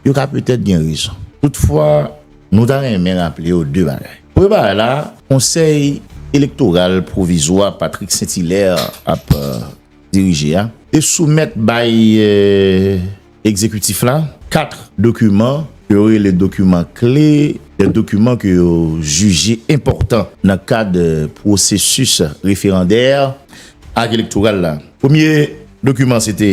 Yo ka petèt gen rezon. Toutfwa, nou ta renmen raple yo 2 bagay. Premye bagay la, Konsèy Elektoral Pwovizwa Patrick St-Hilaire ap dirije a te soumèt bay Egzekitif la 4 dokiman ke yo rele dokiman kle, de dokiman ke yo jije enpòtan nan kad pwosesis referandè ak elektoral la. Premye dokiman se te.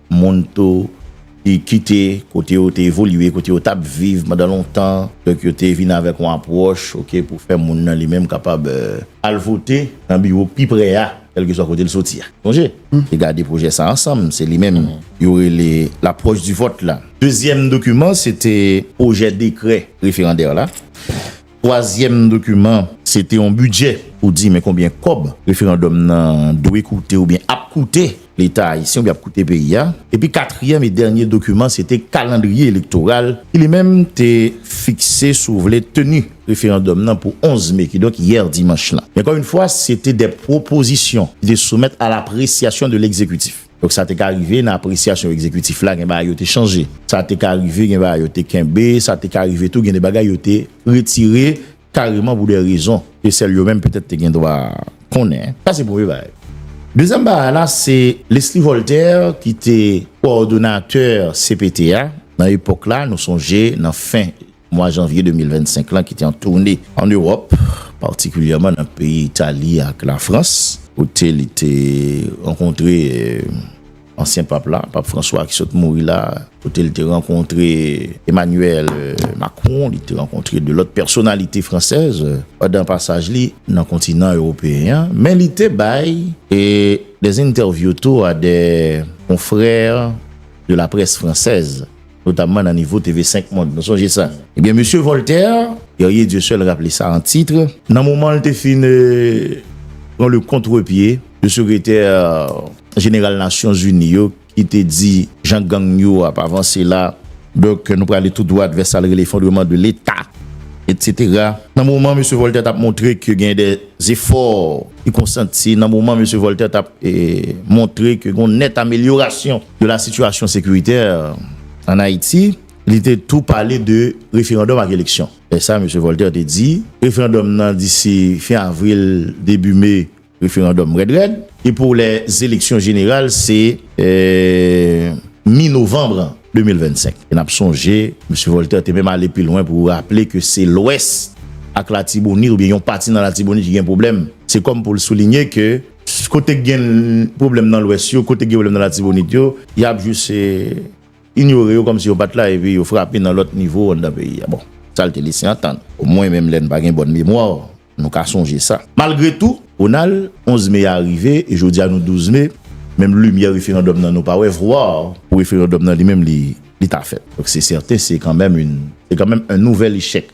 moun tou ki kite kote yo te evolye, kote yo t ap viv pandan lontan, donk yo te vin avèk yon apwòch oke pou fè moun nan li menm kapab al vote nan biwo k pi pre a kèlkeswa kote l soti a. Sonje, te gade pwojè sa a ansanm, se li menm yo rele l'approche du vote la. Dezyèm dokiman se te pwojè dekrè referandè la. Twazyèm dokiman, se te yon bidjè pou di men konbyen kòb referandòm nan dwe koute oubyen ap koute leta ayisyen oubyen ap koute peyi a. Epi katriyèm e dènye dokiman se te kalandriye elektoral ki li menm te fikse sou vle teni referandòm nan pou 11 me kidonk yè dimanch lan. Men ankò yn fwa se te de pwopozisyon ki te soumèt a lapresiyasyon de legzekitif. Donk sa te ka rive nan apresyasyon egzekitif la gen bagay yo te chanje. Sa te ka rive gen bagay yo te kenbe, sa te ka rive tou gen de bagay yo te retire kareman pou de rezon ke sèl yo menm petèt te gen dwa konnen. Sa se premye bagay. Dezyèm bagay la se Leslie Voltaire ki te kowòdonatè cpt a nan epòk la, nou sonje nan fen. Mwa janvye 2025 lan ki te an toune an Ewòp, patikilyèman nan peyi Itali ak Lafrans, kote li te rankontre ansyen pap la, Pap Franswa ki sot mouri la, kote li te rankontre Emanyèl Makron, li te rankontre de lòt pèsonalite fransèz pandan pasaj li nan kontinan ewopeyen an, men li te bay dè entèvyou tou a dè konfrè de laprès fransèz. notamman nan nivo TV 5 Mond. Nou sonje sa. Ebyen, mesye Voltaire, Guerrier Dieu seul raple sa an titre, nan moman l te fin pran le kontrepye de sekretè jeneral Nasyon Zini yo ki te di jan gang yo ap avanse la, donk nou prale tou dwat vè sa l rele efondreman de Leta, etsetera. Nan moman mesye Voltaire t ap montre ke gen de zefò ki konsanti, nan moman mesye Voltaire t ap montre ke gen yon nèt amelyorasyon. de la situation sécuritaire en Haïti, li te tou pale de referandòm ak eleksyon. Lè sa Mesye Voltaire te di, referandòm nan disi fen avril, debi me, referandòm rèd rèd, e pou lè zeleksyon jeneral se mi novanm 2025. E n ap sonje Mesye Voltaire te menm ale pi lwen pou raple ke se Lwès ak Latibonit oubyen yon pati nan Latibonit ki gen pwoblèm. Se kòm pou l soulinye ke Kote gen pwoblèm nan lwès yo, kote gen pwoblèm nan latibonit yo, y ap jis inyore yo kòmsi yo pa t la epi yo frape nan lòt nivo anndan peyi a. Bon, sa l te lese antann. Omwen menm lè n pa gen bòn memwa, nou ka sonje sa. Malgre tou, Ronald, 11 me a rive e jodi a nou 12 me, menm limyè referandòm nan nou pa wè, vwar. Pou referandòm nan li menm li ta fèt. Donk se sèten se kanmenm yon, se kanmenm yon nouvèl echèk.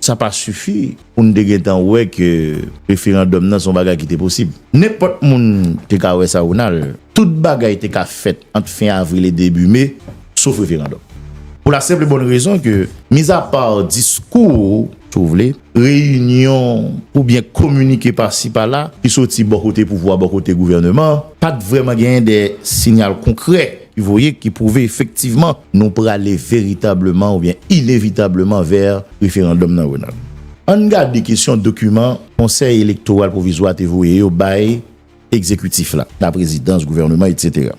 Sa pa sifi pou n te gen tan wè ke referandòm nan se yon bagay ki te posib. Nenpòt moun te ka wè sa, Ronald. Tout bagay te ka fèt ant fen avril e debi me, sof referandòm. Pou la senp e bòn rezon ke, mizapa diskou, si w vle, reyinyon oubyen kominike pasi pala ki soti bò kote pouvwa, bò kote gouvèneman, pa t vrèman genyen de sinyal konkrè. Ki voye, ki pwouve efektivman nou prale veritableman oubyen inevitableman vè referandòm nan, Ronald. Ann gade kesyon dokiman Konsèy Elektoral Pwovizwa te voye yo bay Egzekitif la, Laprezidans, Gouvèneman, etsetera.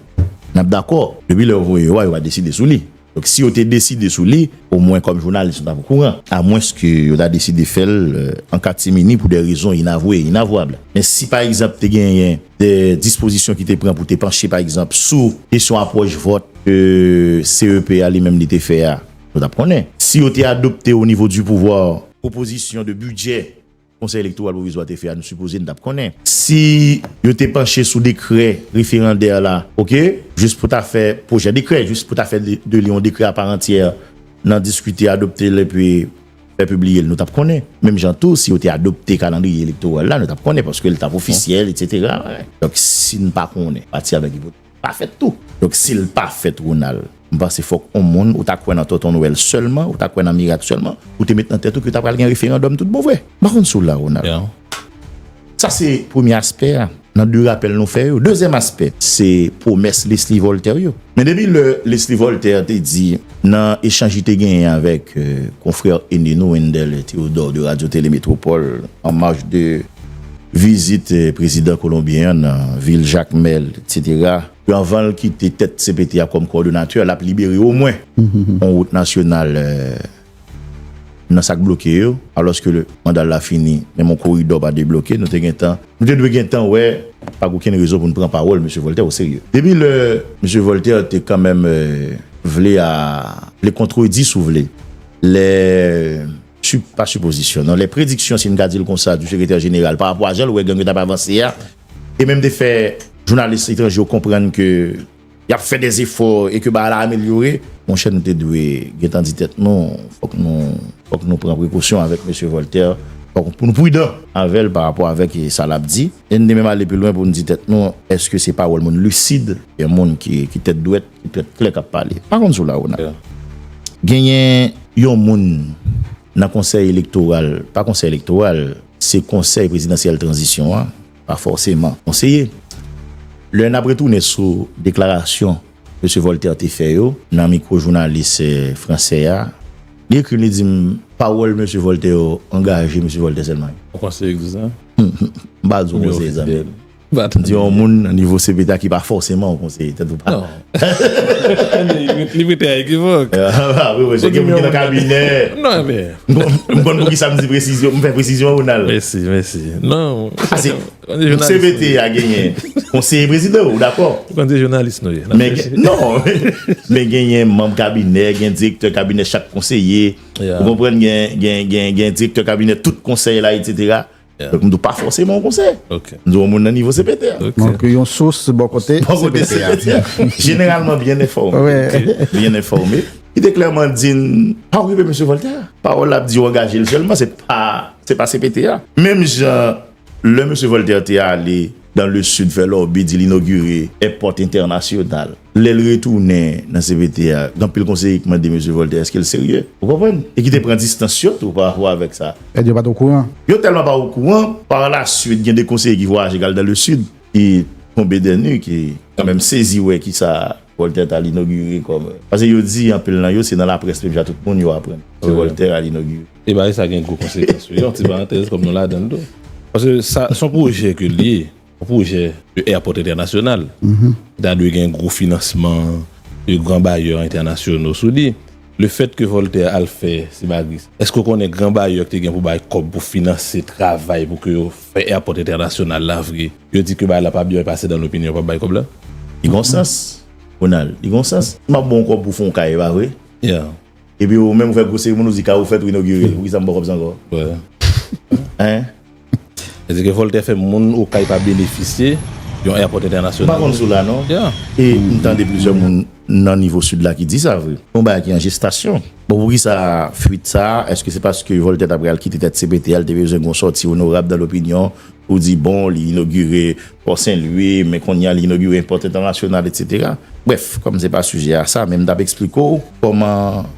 N ap dakò, depi lè yo voye yo a, yo pa deside sou li. Donk, si yo te deside sou li, omwen kòm jounalis nou t ap okouran. Amwenske yo ta deside fè l an katimini pou dè rezon inavwe e inavwab. Men si pa egzanp te genyen. de dispozisyon ki te pran pou te panche pa egzanp sou kesyon apwòch vòt ke CEP a li menm li te fè a, nou tap konnen. Si yo te adopte o nivo di pouvwa. Pwopozisyon de bidjè Konsèy Elektoral Pwovizwa te fè a nou sipoze nou tap konnen. Si yo te panche sou dekrè referandè la ok jis pou ta fè pwojè dekrè jis pou ta fè de li yon dekrè aparantyè nan diskite, adopte l epi. Lè pibliye l nou t ap konnen. Menm jan tou si yo te adopte kalandriye elektoral la nou t ap konnen paske l t ap ofisyèl etsetera. Donk si n pa konnen pati avèk ipotèz li pa fèt tou. Donk si l pa fèt Ronald m panse fòk on moun ou ta kwè nan Tonton Nwèl sèlman ou ta kwè nan mirak sèlman ou te met nan tèt ou ke ta pral gen referandòm tout bon vre. M pa konn si w la Ronald. Sa se premye aspè a nan 2 rapèl nou fè yo. Dezyèm aspè, se pwomès Leslie Voltaire yo. Men depi lè Leslie Voltaire te di nan echanj li te genyen avèk konfrè ene nou Wendell Theodore de Radio Télé Métropole en marge de vizit prezidan kolonbyen an nan vil Jacmel etc. Ke anvan l kite tèt cpt a kòm kòdonatè l ap libere omwen yon wout nasyonal nan sak bloke yo alòske mandal la fini menm yon koridò pa debloke nou te gentan nou te dwe gentan wè pa gen okenn rezon pou nou pran pawòl mesye Voltè o serye depi lè mesye Voltè te kanmenm vle a vle kontredi si w vle lè si pa sipozisyon non lè prediksyon si n ka di l konsa di sekretè jeneral parapò a jan l wè gang yo t ap avanse a e menm te fè jounalis etranje yo konprann ke. Yap fè des efò e ke bagay la amelyore. Monchè nou te dwe gentan di tèt nou fòk nou fòk nou pran prekosyon avèk mesye Voltaire fòk pou nou prudan avèl pa rapò avèk sa lap di e nou te menm ale pi lwen pou nou di tèt nou èske se pawòl moun lisid oubyen moun ki ki tèt dwèt ki tèt klè kap pale m pa konn si w la Ronald genyen yon moun nan konsèy elektoral pa konsèy elektoral se konsèy prezidansyèl tranzisyon an. pa fòseman konseye. Lè n ap retounen sou deklarasyon Mesye Voltaire te fè yo nan mikwo jounalis fransè a, li ekri m li di m pawòl Mesye Voltaire yo angaje Mesye Voltaire sèlman. Ou panse yo egzan? M pa di w konseye zanmi m. M di w yon moun nan nivo CPT a ki pa fòseman yon konseye tèt ou pa. Li mete a ekivok. Awi mwen se gen mwen ki nan kabine. Non anbe. M konn pou ki sa m di presizyon, m fè presizyon ou nan. Mèsi, mèsi. Non. Ase, m se vete a genyen. M se prezidou, ou dakò? M konn se jounalis nou ye. Men gen, non. Men genyen manm kabine, gen direktè kabine chak konseye. Ou konpren gen, gen, gen, gen direktè kabine tout konseye la, etc. Donk m di w pa fòse m an konsèy. M di w yon moun nan nivo CPT a. Donk yon sous bò kote CPT a. Jeneralman byen enfòme. Byen enfòme. Li te klèman di n, pa okipe Mesye Vòltè. Pawòl l ap di yo angaje l sèlman, se pa CPT a. Menm jan lè Mesye Vòltè te ale. Dans le sud fè lòbi di l inogire èpòt entènasyonal. Lè l retounen nan cpt a, gen anpil konseye ki mande mesye Voltè èske l serye. Ou konprann? E ki te pran distans yo tou pa rapò avèk sa. Èske yo pa t okouran? Yo tèlman pa okouran, parlasuit gen 2 konseye ki vwayaje k al dans le sud ki tonbe dè nu ki kanmenm sezi wè kisa Voltaire ta al inogire kòm. Pase yo di anpil nan yo se nan laprès menm jan tout moun yo aprann ke Voltaire al inogire. E bagay sa gen gwo konsekans wi. Yon ti parantèz kòm nou ladan l tou. Pase sa se yon pwojè ke l ye. Yon pwojè de airport entènasyonal. Ki ta dwe gen gwo finansman de gran bayè entènasyono sou li. Le fèt ke Voltaire al fè Sibagris. Èske ou konnen gran bayè ki te gen pou bay kòb pou finanse travay pou ke yo fè airport entènasyonal la vre. Yo di ke bagay la pa byen pase dan lopinyon yo pap bay kòb la? Li gon sans Ronald, li gon sans. M ap ba w kòb pou w fè yon kay, e pa vre? Epi ou menm ou fè gwo seremoni ou di kay ou fèt ou inogire l, poukisa m ba w kòb sa ankò? Hein? Vle di ke Voltè fè moun Okay pa benefisye yon èpòt entènasyonal. M pa konn sou la non. E m tande plizyè moun nan nivo Sid la ki di sa vre. Se yon bagay ki an jestasyon. Bon poukisa fuit sa a? Èske se paske Voltè t ap pral kite tèt CPT a, l te bezwen gon sòti onorab dan lopinyon? Ou di bon li inogire pò senlwi men konnya li inogire pòt entènasyonal etc. Brèf kòm se pa sijè a sa men m tap eksplike w kòman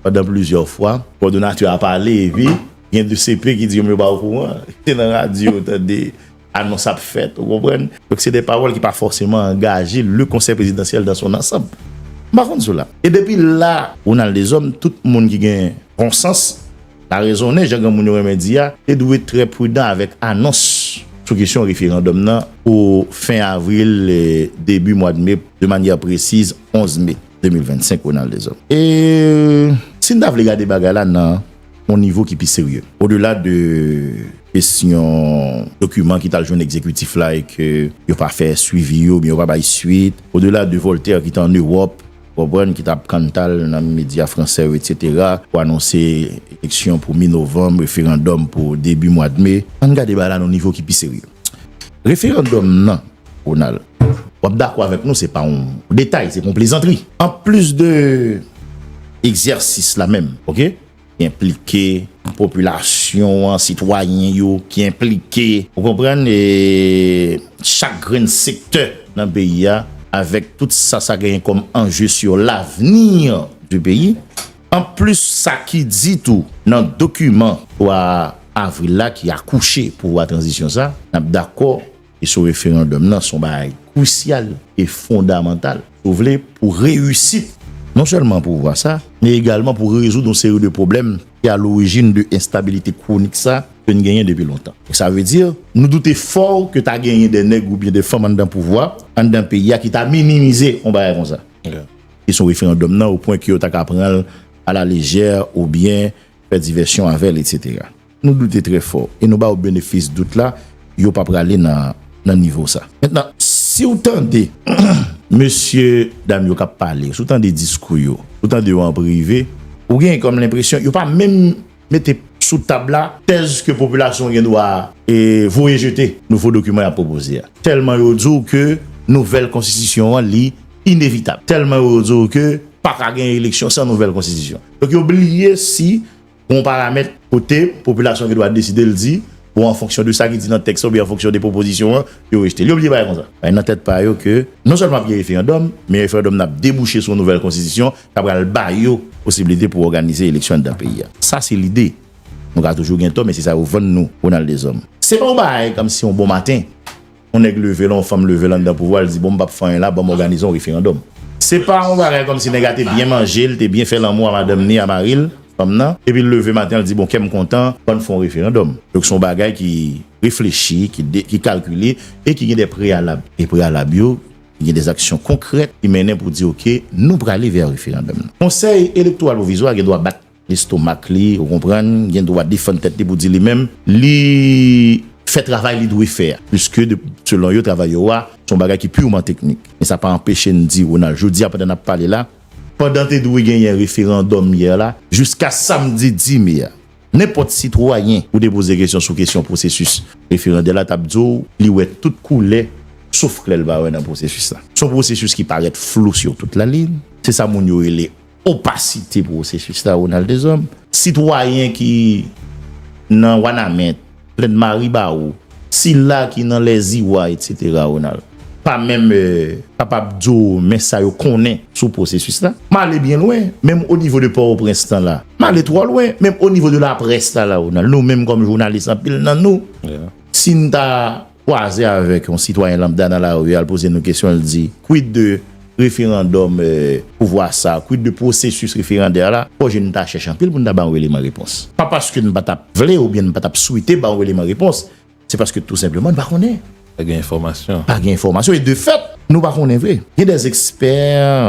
pandan plizyè fwa kòdonatè a pale epi gen de CP ki di yo menm yo pa okouran se nan radyo yo tande anons ap fèt ou konprann donk se de pawòl ki pa fòseman angaje le konsèy prezidansyèl dan son ansanb m pa konn sou la e depi la Ronald Deshommes tout moun ki gen bon sans La rezone, jan granmoun yo renmen di a, te dwe trè pridan avèk anons sou kesyon referandòm nan pou fen avril, debi mwad me, de manyè presiz 11 me 2025, Ronald Deshommes. E si n ta vle gade bagay la nan yon nivo ki pi serye, odela de kesyon dokiman ki t al jwenn egzekitif la e ke yo pa fè swivi yo oubyen yo pa bay swit, odela de Voltaire ki te an Ewòp, Konprann ki tap kantal nan medya fransè yo etc pou anonse eleksyon pou mi novanm referandòm pou debi mwad me. Ann gade bagay la nan yon nivo ki pi serye. Referandòm nan Ronald wap dakò avèk nou se pa yon detay se pa yon plezantri anplis de egzèsis la menm ok Enplike popilasyon an, sitwayen yo ki enplike. Ou konprann e chak grenn sektè nan peyi a avèk tout sa sa genyen kòm anje sur l'avenir du peyi. Anplis sa ki di tou nan dokiman 3 avril la ki akouche pouvwa tranzisyon sa, n ap dakò. Kesyon referandòm nan son bagay krisyal e fondamantal, si w vle, pou reyisit non sèlman pouvwa sa, men egalman pou rezoud yon seri de pwoblèm ki a lorijin de enstabilite kwonik sa ke n genyen depi lontan. Donk sa vle di, nou doute fò ke ta genyen de nèg oubyen de fanm anndan pouvwa, anndan peyi a ki ta minimize yon bagay konsa, kesyon referandòm nan, o pwen ke yo ta ka pran l a la lejè oubyen fè divèsyon avè l, etsetera. Nou doute trè fò e nou ba ou benefis dout la, yo pa prale nan nivo sa. Mentnan, si ou tande mesye dam yo k ap pale, si ou tande diskou yo, si ou tande yo an prive, ou gen kòm lenpresyon yo pa menm mete sou tab la tèz ke popilasyon an gen dwa voye jete nouvo dokiman y ap pwopoze a. Tèlman yo di ou ke nouvèl konstitisyon an li inevitab. Tèlman yo di ou ke pa ka gen eleksyon san nouvèl konstitisyon. Donk yo bliye si Gon paramèt kote popilasyon gen dwa deside l di bon an fonksyon de sa ki di nan tèks la oubyen an fonksyon de pwopozisyon an yo rejte l. Yo bliye bagay kon sa. Bay nan tèt pa yo ke non sèlman ap gen referandòm men referandòm nan ap debouche sou yon nouvèl konstitisyon ka pral ba yo posibilite pou òganize eleksyon anndan peyi a. Sa se lide. Nou ka toujou gen tò men se sa yo vann nou Ronald Deshommes. Se pa yon bagay kòmsi yon bon maten. yon nèg leve la, yon fanm leve la anndan pouvwa, li di bon m pap fè anyen la, banm òganize yon referandòm. Se pa yon bagay kòmsi nèg la te byen manje, li te byen fè lanmou a madanm ni a mari l, fanm nan, epi l leve maten an li di bon kè m kontan, bann fè yon referandòm. Donk se yon bagay ki reflechi, ki kalkile e ki gen dè preyalab. E preyalab yo, li gen dè aksyon konkrèt ki mennen pou di ok, nou prale vè referandòm nan. Konsèy Elektoral Pwovizwa a gen dwa bat Lestomak li, ou konprann, gen dwa defann tèt li pou di li menm, li fè travay li dwe fè a. Piske de, selon yo, travay yo a, se yon bagay ki purman teknik. Men sa pa anpeche n di, Ronald, jodi a pandan n ap pale la, pandan te dwe genyen referandòm yè la, jiska samdi 10 me a, nenpòt sitwayen ou te poze kesyon sou kesyon pwosesis referandè la t ap di w li wè tout koulè sof klè l pa wè nan pwosesis la. Se yon pwosesis ki parèt flou sur toute la ligne, se sa moun yo rele. Opasite pwosesis la Ronald Deshommes. Sitwayen ki nan Wanament, Plèn Maribawou, sila ki nan Lèziwa etc. Ronald. Pa menm kapab di w men sa yo konnen sou pwosesis la. M ale byen lwen, menm o nivo de Pòtoprens lan la. M ale twò lwen, menm o nivo de laprès la la Ronald. Nou menm kòm jounalis anpil nan nou, si n ta. kwaze avèk yon sitwayen lambda nan lari a, l poze nou kesyon, l di, Kwid de referandòm pouvwa sa? Kwid de pwosesis referandè la? Fò je n ta chèch anpil pou n ta ba yon eleman repons. Pa paske n pa t ap vle oubyen n pa t ap swete ba yon eleman repons, se paske tou senpleman n pa konnen. Pa gen enfòmasyon. Pa gen enfòmasyon e de fèt, nou pa konnen vre. Gen dè ekspè,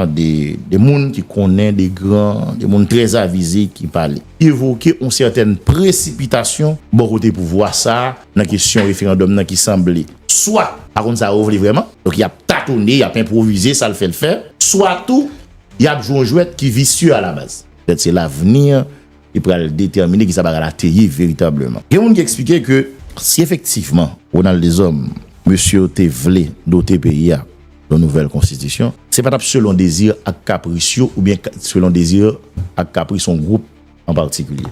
de moun ki konnen, de gran, de moun trè avize ki pale. Evoke yon sètèn presipitasyon bò kote pouvwa sa, nan kesyon referandòm nan ki sanble swa pa konn sa yo vle vrèman, donk y ap tatone, y ap enpwovize sa l fè l fè, swa tou y ap jwe yon jwèt ki visye alabaz. Petèt se lavni ki pral detèmine ki sa bagay la te ye veritableman. Gen moun ki eksplike ke si efektivman Ronald Deshommes, mesye yo te vle dote peyi a yon nouvèl konstitisyon, se pa t ap selon dezi ak kapris yo oubyen selon dezi ak kapris yon gwoup an patikilye.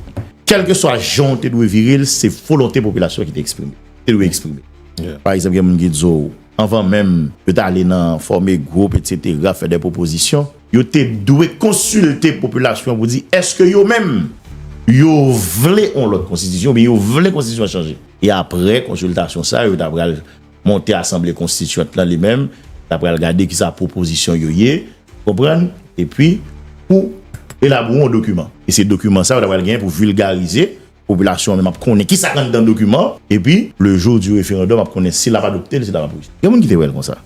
Kèlkeswa jan w te dwe vire l, se volonte popilasyon an ki te eksprime, te dwe eksprime. Pa egzanp, gen moun ki di w, anvan menm yo ta ale nan fòme gwoup etsetera, fè de pwopozisyon, yo te dwe konsilte popilasyon an pou di èske yo menm yo vle yon lòt konstitisyon oubyen yo vle konstitisyon an chanje. E aprè konsiltasyon sa yo, yo ta pral monte asanble konstityant lan li menm ta pral gade ki sa pwopozisyon yo ye, ou konprann, e pi pou elabore yon dokiman. E se dokiman sa yo ta pral genyen pou vilgarize, popilasyon an menm ap konnen ki sa k anndan dokiman, e pi le jou di referandòm ap konnen si l ap adopte l, si l ap ap rejte. Gen moun ki te wè l konsa.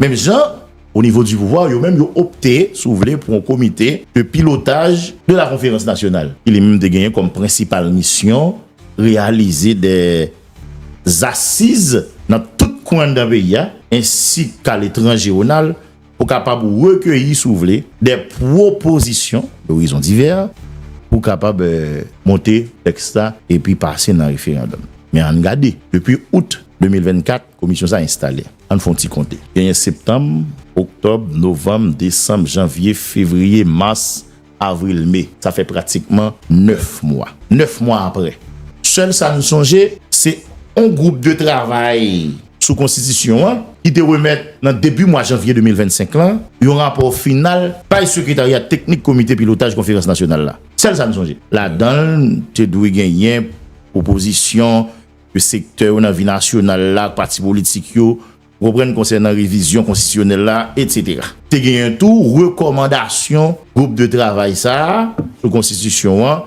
Menm jan, o nivo di pouvwa, yo menm yo opte, si w vle, pou yon komite de pilotaj de la konferans nasyonal, ki li menm te genyen kòm prensipal misyon reyalize de. zasiz nan tout kwen anndan peyi a, ensi ka letranje onal pou kapab rekeyi si w vle dè pwopozisyon dorizon divè pou kapab monte tèks la epi pase nan referandòm. Men ann gade, depi out 2024 komisyon sa enstale, ann fon ti konte, genyen septanm, oktòb, novanm, desanm, janvye, fevriye, mas, Avril, Me, sa fè pratikman 9 mwa. 9 mwa apre, sèl sa n sonje, se yon gwoup de travay sou konstitisyon an ki te remèt nan debi mwa janvye 2025 lan yon rapò final bay sekretarya teknik komite pilotaj konferans nasyonal la. Sèl sa n sonje. Ladan l, te dwe genyen pwopozisyon ke sektè yo nan vi nasyonal la ak pati politik yo Reprann konsènan revizyon konstitisyonèl la, etc. Te genyen tou rekòmandasyon gwoup de travay sa a sou konstitisyon an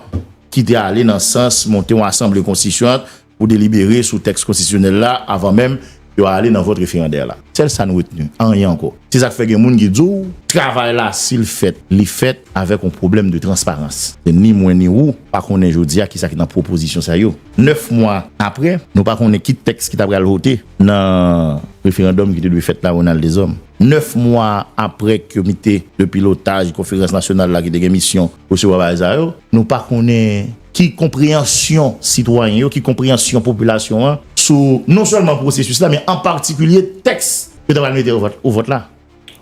ki te ale nan sans monte yon asanble konstitisyant pou delibere sou tèks konstitisyonèl la avan menm yo ale nan vòt referandè la. Sèl sa n retni, anyen ankò. Se sa k fè gen moun ki di w. Travay la, si l fèt, li fèt avèk yon pwoblèm de transparans. Se ni mwen ni ou pa konnen jodi a ki sa ki nan pwopozisyon sa yo. Nèf mwa apre, nou pa konnen ki tèks ki ta pral vote. nan referandòm ki te dwe fèt la Ronald Deshommes. 9 mwa apre komite de pilotaj konferans nasyonal la ki te gen misyon resevwa bagay sa yo, nou pa konnen ki konpreyansyon sitwayen yo, ki konpreyansyon popilasyon an sou non sèlman pwosesis la men an patikilye tèks yo ta pral mete o vòt la.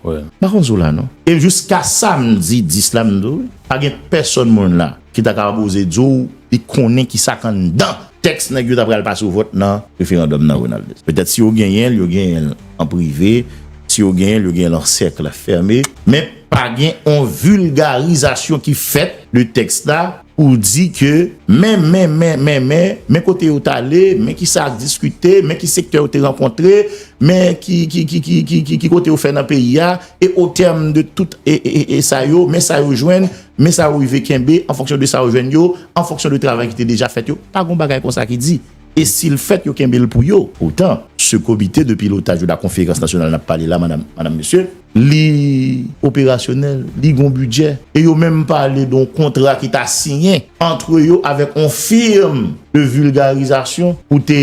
M pa konn si w la non. E jiska samdi 10 la m di w pa gen pèsòn moun la ki ta ka oze di w li konnen ki sa k anndan tèks nèg yo ta pral pase vòt nan referandòm nan Ronald. Petèt si yo genyen l yo genyen l an prive, si yo genyen l yo genyen l an sèkl fème men pa gen on vilgarizasyon ki fèt de tèks la. Ou di ke men, men, men, men, men, men kote yo t'ale, men ki sa ak diskite, men ki sektè yo te rankontre, men ki, ki, ki, ki, ki, ki, ki kote yo fè nan peyi a, e o tèm de tout e, e, e, e sa yo, men sa yo jwenn, men sa yo rive kenbe, an fonksyon de sa yo jwenn yo, an fonksyon de travay ki te deja fèt yo, pa g'on bagay konsa ki di. E si l fèt, yo kenbe l pou yo. Poutan, se komite de pilotaj ou la konferans nasyonal n ap pale la, madam, mesye. Li operasyonèl, li gen yon bidjè. E yo menm pale de yon kontra ki ta siyen antre yo avèk yon firm de vilgarizasyon pou te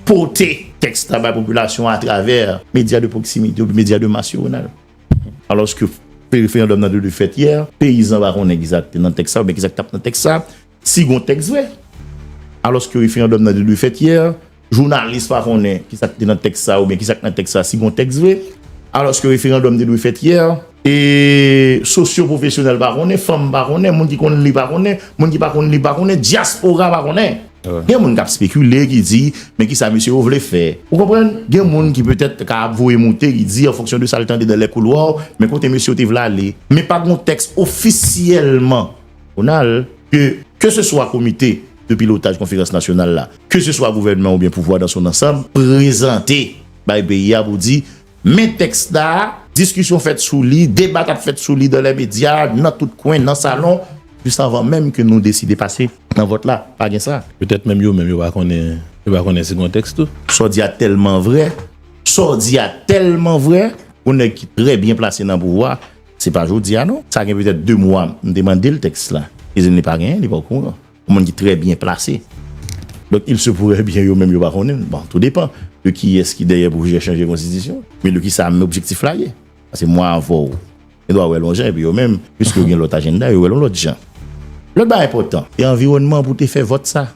pote tèks la bay popilasyon an atravè medya de pwoksimite oubyen medya de mas yo, Ronald. Alòske referandòm nan te dwe fèt yè, peyizan pa konn egzakte nan tèks sa oubyen ki sa ki t ap nan tèks sa. Si gon tèks vre. Alòske referandòm nan te dwe fèt yè. Jounalis pa konnen ki sa ki te nan tèks sa oubyen ki sa ki nan tèks sa si gon tèks vre. Alòske referandòm te dwe fèt yè. E sosyo pwofesyonèl pa konnen, fanm pa konnen, moun ki konn li pa konnen, moun ki pa konn li pa konnen, dyaspora pa konnen. Gen moun k ap spekile ki di men ki sa mesye yo vle fè. Ou konprann? Gen moun ki petèt te ka ap voye moute ki di an fonksyon de sa l tande dan lè koulwa, men kote mesye yo te vle ale. Men pa gon tèks ofisyèlman Nasyonal, ke keseswa komite de pilotaj konferans nasyonal la, keseswa gouvènman oubyen pouvwa dan son ansanm, prezante bay peyi a pou di, men tèks la, diskisyon fèt sou li, debat ap fèt sou li dan lè medya, nan tout kwen, nan salon, jis anvan menm ke nou deside pase nan vòt la, pa gen sa. Petèt menm yo menm yo pa konnen, yo pa konnen si gon tèks tou. Sa w di a tèlman vrè, sa w di a tèlman vrè, yon nèg ki trè byen plase nan pouvwa, Se pa jodi a non. Sa gen petèt 2 mwa m te mande l tèks la. Li di m li pa genyen, li pa okouran. Yon moun ki trè byen plase. Donk il se pourrait byen yo menm yo pa konnen l. Bon, tou depan de kiyès ki dèyè pwojè chanje konstitisyon an. Men de ki sa men objektif la ye. Paske mwen avè w gen dwa wè l yon jan epi yo menm, piske yo gen lòt ajennda, yo wè l yon lòt jan. Lòt bagay enpòtan, se anviwònman pou te fè vòt sa.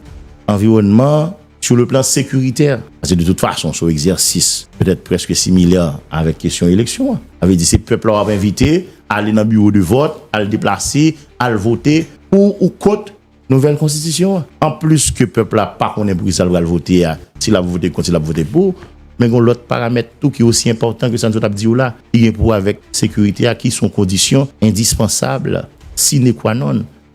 Anviwònman Sou le plan sekiritè, paske de tout fason se yon egzèsis petèt prèske similè avèk kesyon eleksyon an, sa vle di se pèp la w ap envite ale nan biwo de vòt, al deplase, al vote pou ou kont nouvèl konstitisyon an. Anplis ke pèp la pa konnen pou ki sa l pral vote a, si l ap vote kont, si l ap vote pou, men gen yon lòt paramèt tou ki osi enpòtan ke sa nou sot ap di w la, ki gen pou wè avèk sekiritè a, ki se yon kondisyon endispansab, sine qua non,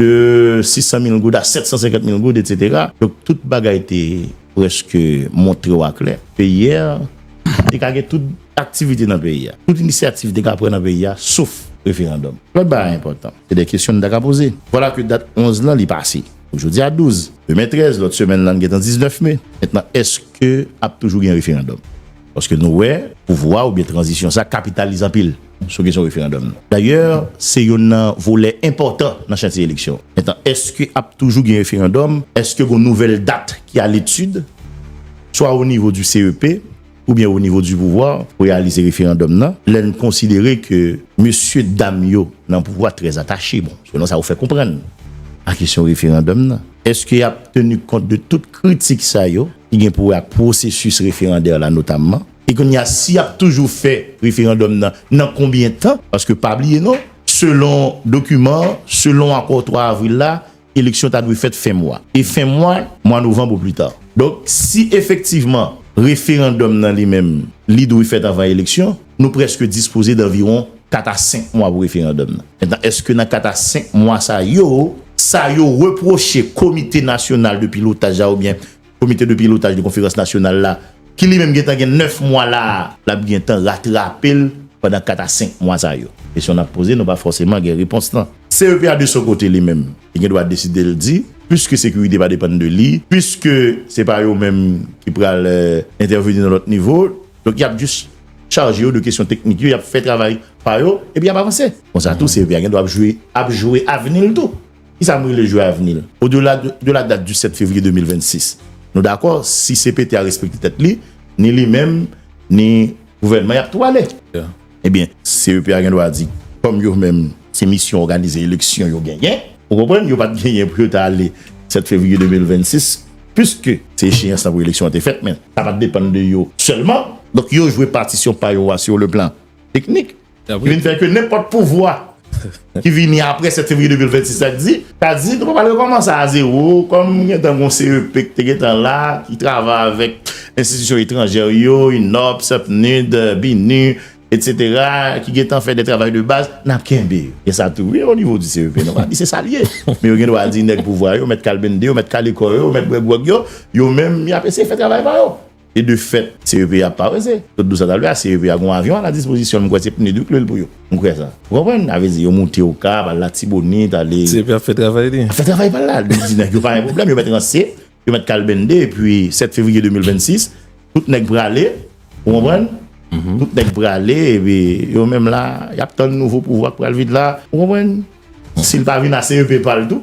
De 600 mil goud a 750 mil goud, etsetera. Donk tout bagay te prèske montre ou aklè. Peyi a te ka gen tout aktivite nan peyi a. Tout inisyativ te ka pran nan peyi a sof referandòm. Lòt bagay enpòtan. Se de kesyon nou ta ka poze. Vwala ke dat 11 lan li pase. Jodi a 12. Demen 13. Lòt semèn lan gentan 19 me. Mentnan èske ap toujou gen referandòm? Paske nou wè pouvwa oubyen tranzisyon sa kapitalize anpil sou kesyon referandòm nan. Dayè, se yonn nan volè enpòtan nan chantye eleksyon. Etan, èske ap toujou gen referandòm? Èske gon nouvèl dat ki a letid, swa o nivo di CEP oubyen o nivo di pouvwa pou reyalize referandòm nan? Lè n konsidere ke mesye dam yo nan pouvwa trè atache, bon, selon sa ou fè konprann, a kesyon referandòm nan, èske y ap teni kont de tout kritik sa yo? ki gen pou wè ak pwosesis referandè la notamman. E kounye a si y ap toujou fè referandòm nan, nan konbyen tan? Paske pa bliye non, selon dokiman, selon akò 3 avril la, eleksyon ta dwe fèt fen mwa. E fen mwa, mwa novanb ou pli ta. Donk si efektivman referandòm nan li menm li dwe fèt anvan eleksyon. Nou prèske dispoze danviwon 4 a 5 mwa pou referandòm nan. Mentnan, èske nan 4 a 5 mwa sa yo, sa yo repwoche Komite Nasyonal de Pilotaj la oubyen Komite de Pilotaj de Konferans Nasyonal la, ki li menm gentan gen 9 mwa la a, l ap gentan ratrape l pandan 4 a 5 mwa sa yo? Kesyon n ap poze nou pa fòseman gen repons lan. CEPA de son kote li menm, li gen dwa deside l di, piske sekirite pa depann de li, piske se pa yo menm ki pral entèveni nan lòt nivo, Donk yap jis chaje yo de kesyon teknik yo, yap fè travay pa yo, epi yap avanse. Konsa tou CEVA gen dwa ap jwe, ap jwe avni l tou. Kisa m rele jwe avni l? O dela de la dat di 7 fevriye 2026, nou dakò si cpt a respekte tèt li, ni li menm, ni gouvènman yap tou ale. Ebyen, CEP a gen dwa di, kòm yo menm se misyon òganize eleksyon yo genyen, ou konprann, yo pa t genyen pou yo t ale 7 fevriye 2026, piske se echeyans la pou eleksyon an te fèt, men sa pa t depann de yo sèlman. Donk yo jwe patisyon pa yo a sur le plan teknik, ki vin fè ke nenpòt pouvwa ki vini apre 7 fevriye 2026 la ki di, ta di nou pa pral rekòmanse a zewo, kòm gen tan gen yon CEP ki te gen tan la, ki travay avèk enstitisyon etranjè yo, UNOPS, PNUD, BINUH, etc. ki gen tan fè de travay de baz, n ap kenbe yo. Gen sa tou wi o nivo di CEP, nou pa di se sa l ye, men yo gen dwa di nèg pouvwa yo, mèt kalbende yo, mèt kalekò yo, mèt bwè gwòg yo, yo menm y ap eseye fè travay pa yo. E de fèt, CEP a pa prese. Kot dous sa ta vle a, CEP a gen yon avyon a la dispozisyon l, m kwè se PNUD wi k lwe l pou yo. M kwè sa. Ou konprann? Sa vle di yo moute Okap, al Latibonit, ale. CEP ap fè travay li. Ap fè travay pa l la. Li di nèg yo pa gen pwoblèm, yo mèt ranse, yo mèt kalbennde epi 7 fevriye 2026, tout nèg prale. Ou konprann? Tout nèg prale epi yo menm la, y ap tann nouvo pouvwa k pral vin la. Ou konprann? Si l pa vin a CEP pa l tou.